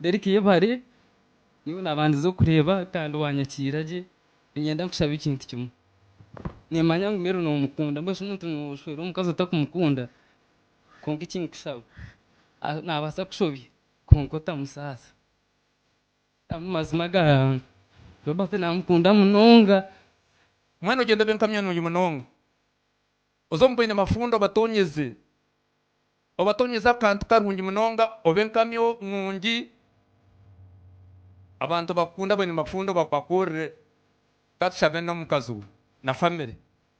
Derrick yebare nyowe nabandize kukureeba kandi wanyakiira gye ninyenda nkushabe ekintu kimwe nimanya ngu Mary nomukunda mbwenu shi omuntu noshweera omukazi otakumukunda. kwonka eki nkushaba nabaasa kushobya kwonka otamusaasa amu mazima ga Robert namukunda munonga. Mwana ogyenda obe nkamya nungi munonga oze omu baine mafundo obatonyeze obatonyeze akantu karungi munonga obe nkamya nungi abantu bakukunde abaine mafundo bakubakorere katushabe nomukaziwe na family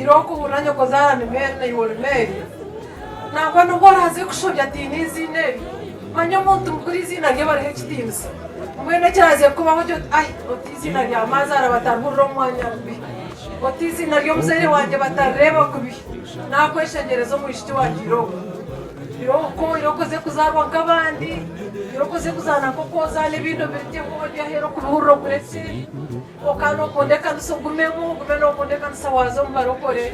Ira okuhurira nyokozaara Anumeeri na Iworimeeri, nangwa n'obu oraaze kushobya ataine eiziina eryo, manya omuntu mukuru eiziina rye barihe ekitiinisa. Mbwenu ekiraaze kukubaho oti, Ai, oti eiziina rya maazaara batarihurira omu mwanya bubi, oti eiziina ry'omuzaire wangye batarireeba kubi, naakweshengyereza omwishiki wangye ira oku. Ira oku, ira okuze kuzaarwa nk'abandi, ira okuze kuzaana nk'oku ozaana ebindi obirigyeho, oryaheera okubihurira okuretse. Kwonka nookunda ekanisa ogumemu, ogume nookunda ekanisa waaza omu barokore.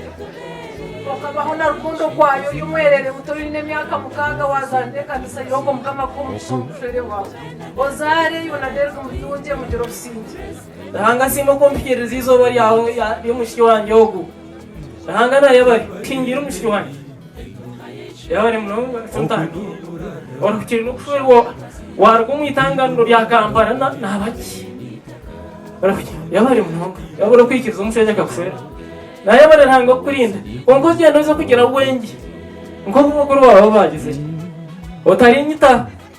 Kwonka baho na rukundo okwayo ori omwerere muto oine emyaka mukaaga waazaanira ekanisa yo ogwo Mukama akuhe omukisa omu bufere bwawe. Ozaare yoona Derrick Mutungye mugire obusingye. Ruhanga asiimwe ku mpikiriize eizooba ry'omwishiki wangye ogu. Ruhanga naayebare ngu nshingire omwishiki wangye. Yabaire munonga Ntaahi orihukire n'okushwerwa waaruga omu itanganiro rya Kampala naaba ki? Orihukire yabaire munonga yaaba orikwikiriza omushaija akakushwera naayabare Ruhanga kukurinda kwonka ogyende oze kugira bwengye nk'obu bakuru baawe baagize ki? Otarinyitaho.